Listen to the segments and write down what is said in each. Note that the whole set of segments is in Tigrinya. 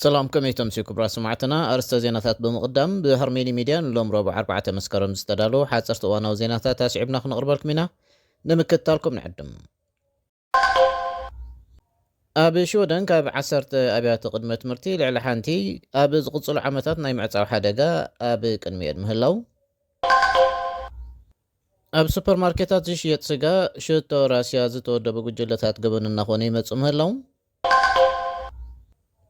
ሰላም ከመይ ተምስዩ ክብራ ስማዕትና ኣርስተ ዜናታት ብምቕዳም ብሃርሜኒ ሚድያ ንሎም ረቡዕ 4 መስከረም ዝተዳለዉ ሓፀርቲ እዋናዊ ዜናታት ኣስዒብና ክንቕርበልኩም ኢና ንምክትታልኩም ንዕድም ኣብ ሽወደን ካብ ዓሰርተ ኣብያተ ቅድመ ትምህርቲ ልዕሊ ሓንቲ ኣብ ዝቕፅሉ ዓመታት ናይ ምዕፃው ሓደጋ ኣብ ቅድሚኤን ምህላው ኣብ ሱፐርማርኬታት ዝሽየጥ ስጋ ሽቶ ራስያ ዝተወደቡ ጉጅለታት ገበን እናኾነ ይመፅእ ምህላው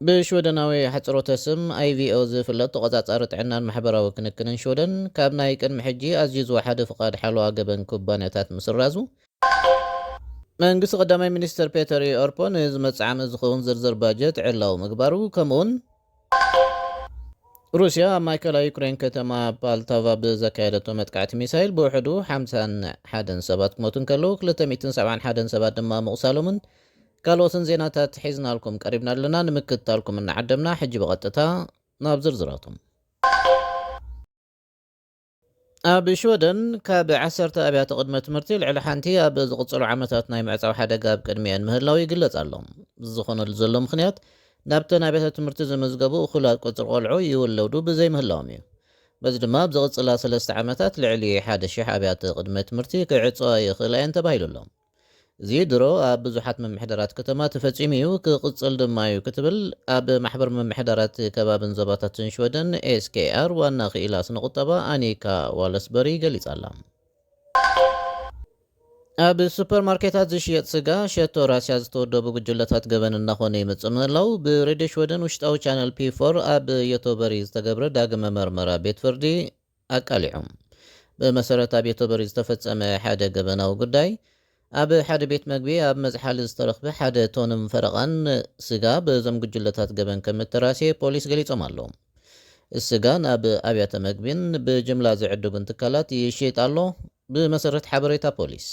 ብሽወደናዊ ኣሕጽሮተ ስም IVO ዝፍለጥ ተቖጻጻሪ ጥዕናን ማሕበራዊ ክንክንን ሽወደን፣ ካብ ናይ ቅድሚ ሕጂ ኣዝዩ ዝወሓደ ፍቓድ ሓለዋ ገበን ኩባንያታት ምስራዙ፣ መንግስቲ ቀዳማይ ሚኒስተር ፔተር ኦርፖ ንዝመጽእ ዓመት ዝኸውን ዝርዝር ባጀት ዕላዊ ምግባሩ፣ ከምኡ'ውን ሩስያ ኣብ ማእከላይ ዩክረይን ከተማ ፓልታቫ ብዘካየደቶ መጥቃዕቲ ሚሳይል ብውሕዱ ሓምሳን ሓደን ሰባት ክሞቱ እንከለዉ ክልተ ሚእትን ሰብዓን ሓደን ሰባት ድማ ምቑሳሎምን ካልኦትን ዜናታት ሒዝናልኩም ቀሪብና ኣለና ንምክትታልኩም እናዓደምና ሕጂ ብቐጥታ ናብ ዝርዝራቶም ኣብ ሽወደን ካብ ዓሰርተ ኣብያተ ቅድመ ትምህርቲ ልዕሊ ሓንቲ ኣብ ዝቕጽሉ ዓመታት ናይ ምዕጻው ሓደጋ ኣብ ቅድሚኤን ምህላው ይግለጽ ኣሎ። እዚ ዝኾነሉ ዘሎ ምኽንያት ናብተን ኣብያተ ትምህርቲ ዝምዝገቡ እኹላት ቁጽሪ ቆልዑ ይውለዱ ብዘይምህላዎም እዩ። በዚ ድማ ኣብ ዝቕጽላ ሰለስተ ዓመታት ልዕሊ ሓደ ሽሕ ኣብያተ ቅድመ ትምህርቲ ክዕጸዋ ይኽእላ እየን ተባሂሉ ኣሎ። እዚ ድሮ ኣብ ብዙሓት ምምሕዳራት ከተማ ተፈጺሙ እዩ፣ ክቕጽል ድማ እዩ ክትብል ኣብ ማሕበር ምምሕዳራት ከባብን ዞባታትን ሽወደን፣ SKR፣ ዋና ክኢላ ስነ-ቁጠባ ኣኒካ ዋለስበሪ ገሊጻ'ላ። ኣብ ሱፐርማርኬታት ዝሽየጥ ስጋ ሸቶ ራስያ ዝተወደቡ ጉጅለታት ገበን እናኾነ ይመጽእ ምህላው ብሬድዮ ሽወደን ውሽጣዊ ቻነል ፒ ፎር ኣብ ዮቶበሪ ዝተገብረ ዳግመ መርመራ ቤት ፍርዲ ኣቃሊዖም። ብመሰረት ኣብ ዮተቦሪ ዝተፈጸመ ሓደ ገበናዊ ጉዳይ፣ ኣብ ሓደ ቤት መግቢ ኣብ መዝሓሊ ዝተረኽበ ሓደ ቶንን ፈረቓን ስጋ በዞም ጉጅለታት ገበን ከም እተራስየ ፖሊስ ገሊጾም ኣለው። ስጋ ናብ ኣብያተ መግቢን ብጅምላ ዝዕድጉን ትካላት ይሽይጥ ኣሎ፣ ብመሰረት ሓበሬታ ፖሊስ።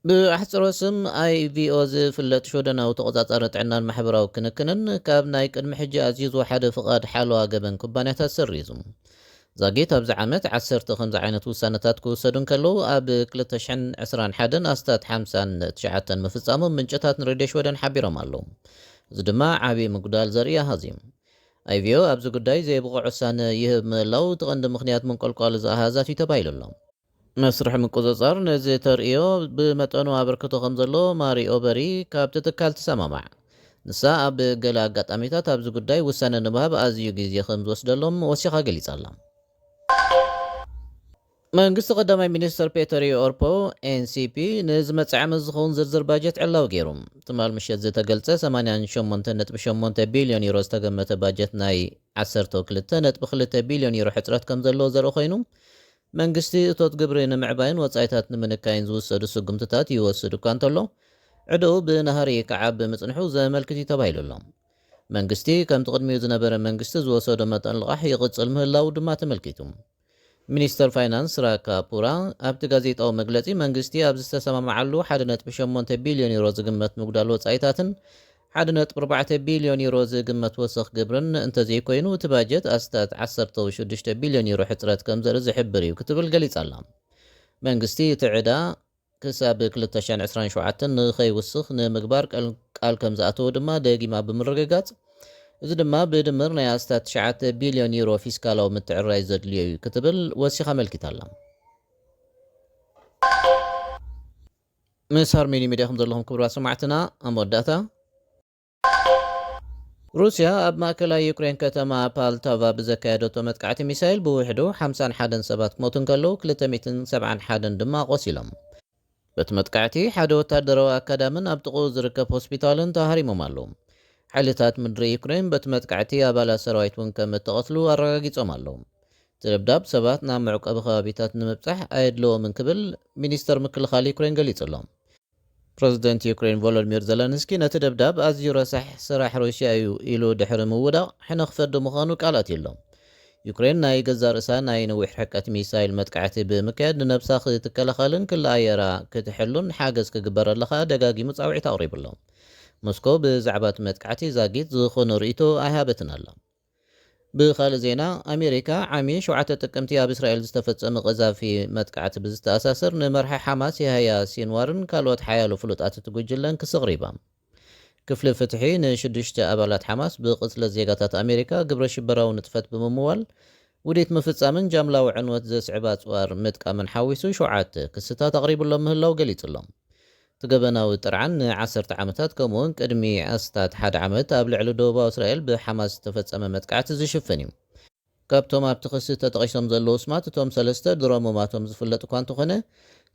ብኣሕጽሮት ስም IVO ዝፍለጥ ሽወደናዊ ተቖጻጻሪ ጥዕናን ማሕበራዊ ክንክንን፣ ካብ ናይ ቅድሚ ሕጂ ኣዝዩ ዝወሓደ ፍቓድ ሓለዋ ገበን ኩባንያታት ሰሪዙ። ዛጊት ኣብዚ ዓመት ዓሰርተ ከምዚ ዓይነት ውሳነታት ክውሰዱ እንከለዉ፣ ኣብ ክልተ ሽሕን ዕስራን ሓደን ኣስታት ሓምሳን ትሽዓተን ምፍጻሞም ምንጭታት ንሬድዮ ሽወደን ሓቢሮም ኣለዉ። እዚ ድማ ዓቢ ምጉዳል ዘርኢ ኣሃዝ እዩ። IVO ኣብዚ ጉዳይ ዘይብቑዕ ውሳነ ይህብ ምህላዉ እቲ ቀንዲ ምኽንያት ምንቆልቋል እዚ ኣሃዛት እዩ ተባሂሉ ኣሎ። መስርሕ ምቁጽጻር ነዚ ተርእዮ ብመጠኑ ኣበርክቶ ከም ዘለዎ ማሪኦ በሪ ካብቲ ትካል ትሰማማዕ። ንሳ ኣብ ገለ ኣጋጣሚታት ኣብዚ ጉዳይ ውሳነ ንምሃብ ኣዝዩ ግዜ ከም ዝወስደሎም ወሲኻ ገሊጻ ኣላ። መንግስቲ ቀዳማይ ሚኒስተር ፔተሪ ኦርፖ፣ ኤንሲፒ፣ ንዝመጽእ ዓመት ዝኸውን ዝርዝር ባጀት ዕላዊ ገይሩ። ትማል ምሸት ዝተገልጸ ሰማንያን ሸሞንተን ነጥቢ ሸሞንተ ቢልዮን ዩሮ ዝተገመተ ባጀት ናይ ዓሰርተው ክልተ ነጥቢ ክልተ ቢልዮን ዩሮ ሕጽረት ከም ዘለዎ ዘርኢ ኮይኑ መንግስቲ እቶት ግብሪ ንምዕባይን ወጻኢታት ንምንካይን ዝውሰዱ ስጉምትታት ይወስድ እኳ እንተሎ፣ ዕደኡ ብናህሪ ክዓቢ ምጽንሑ ዘመልክት'ዩ ተባሂሉ'ሎ። መንግስቲ ከምቲ ቅድሚኡ ዝነበረ መንግስቲ ዝወሰዶ መጠን ልቓሕ ይቕጽል ምህላዉ ድማ ተመልኪቱ። ሚኒስተር ፋይናንስ ራካ ፑራ ኣብቲ ጋዜጣዊ መግለጺ መንግስቲ ኣብ ዝተሰማምዓሉ ሓደ ነጥቢ ሸሞንተ ቢልዮን ዩሮ ዝግመት ምጉዳል ወጻኢታትን ሓደ ነጥቢ ኣርባዕተ ቢልዮን ዩሮ ዝግመት ወሰኽ ግብርን እንተዘይኮይኑ እቲ ባጀት ኣስታት ዓሰርተው ሽዱሽተ ቢልዮን ዩሮ ሕጽረት ከምዘርኢ ዝሕብር እዩ ክትብል ገሊጻ ኣላ። መንግስቲ እቲ ዕዳ ክሳብ ክልተ ሽሕን ዕስራን ሸውዓተን ንኸይውስኽ ንምግባር ቃል ከምዝኣተወ ድማ ደጊማ ብምርግጋጽ እዚ ድማ ብድምር ናይ ኣስታት ትሽዓተ ቢልዮን ዩሮ ፊስካላዊ ምትዕርራይ ዘድልዮ እዩ ክትብል ወሲኻ ኣመልኪታ ኣላ። ምስ ሃርሜኒ ሚድያ ከም ዘለኹም ክብራት ሰማዕትና ኣብ መወዳእታ። ሩስያ ኣብ ማእከላይ ዩክሬን ከተማ ፓልታቫ ብዘካየደቶ መጥቃዕቲ ሚሳይል ብውሕዱ ሓምሳን ሓደን ሰባት ክሞቱ እንከለዉ ክልተ ሚእትን ሰብዓን ሓደን ድማ ቆሲሎም። በቲ መጥቃዕቲ ሓደ ወታደራዊ ኣካዳምን ኣብ ጥቕኡ ዝርከብ ሆስፒታልን ተሃሪሞም ኣለዉ። ሓይልታት ምድሪ ዩክሬን በቲ መጥቃዕቲ ኣባላት ሰራዊት እውን ከም እተቐትሉ ኣረጋጊጾም ኣለዉ። እቲ ደብዳብ ሰባት ናብ መዕቆቢ ከባቢታት ንምብጻሕ ኣየድለዎምን ክብል ሚኒስተር ምክልኻል ዩክረይን ገሊጹ ኣሎ። ፕረዚደንት ዩክረይን ቮሎድሚር ዘለንስኪ ነቲ ደብዳብ ኣዝዩ ረሳሕ ስራሕ ሩስያ እዩ ኢሉ ድሕሪ ምውዳቕ ሕነ ክፈዲ ምዃኑ ቃል ኣትዩ ኣሎ። ዩክረይን ናይ ገዛእ ርእሳ ናይ ነዊሕ ርሕቀት ሚሳይል መጥቃዕቲ ብምክያድ ንነብሳ ክትከላኸልን ክሊ ኣየራ ክትሕሉን ሓገዝ ክግበረላ ከኣ ደጋጊሙ ጻውዒት ኣቕሪቡ ኣሎ። ሞስኮ ብዛዕባ'ቲ መጥቃዕቲ ዛጊት ዝኹን ርእይቶ ኣይሃበትን ኣላ። ብኻልእ ዜና ኣሜሪካ ዓሚ ሸውዓተ ጥቅምቲ ኣብ እስራኤል ዝተፈጸመ ቀዛፊ መጥቃዕቲ ብዝተኣሳሰር ንመራሒ ሓማስ የሃያ ሲንዋርን ካልኦት ሓያሎ ፍሉጣት እቲ ጉጅለን ክሲ ኣቕሪባ። ክፍሊ ፍትሒ ንሽዱሽተ ኣባላት ሓማስ ብቕትለት ዜጋታት ኣሜሪካ ግብረ ሽበራዊ ንጥፈት ብምምዋል ውዲት ምፍጻምን ጃምላዊ ዕንወት ዘስዕብ ኣጽዋር ምጥቃምን ሓዊሱ ሸውዓተ ክስታት ኣቕሪቡሎም ምህላው ገሊጹ'ሎ። እቲ ገበናዊ ጥርዓን ንዓሰርተ ዓመታት ከምኡ'ውን ቅድሚ ኣስታት ሓደ ዓመት ኣብ ልዕሊ ደቡባዊ እስራኤል ብሓማስ ዝተፈጸመ መጥቃዕቲ ዝሽፍን እዩ። ካብቶም ኣብቲ ክሲ ተጠቒሶም ዘለዉ ስማት እቶም ሰለስተ ድሮ ሙማቶም ዝፍለጥ እኳ እንተኾነ፣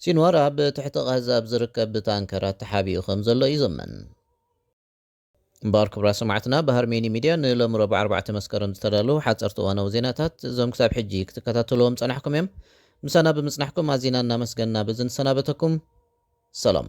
ሲንዋር ኣብ ትሕቲ ቓዛ ኣብ ዝርከብ ታንከራት ተሓቢኡ ከምዘሎ እዩ ዝእመን። እምበኣር ክቡራት ሰማዕትና ብሃርሜኒ ሚድያ ንሎሚ ረቡዕ ኣርባዕተ መስከረም ዝተዳለዉ ሓጸርቲ እዋናዊ ዜናታት እዞም ክሳብ ሕጂ ክትከታተልዎም ዝጸናሕኩም እዮም። ምሳና ብምጽናሕኩም ኣዚና እናመስገንና በዚ ንሰናበተኩም ሰላም።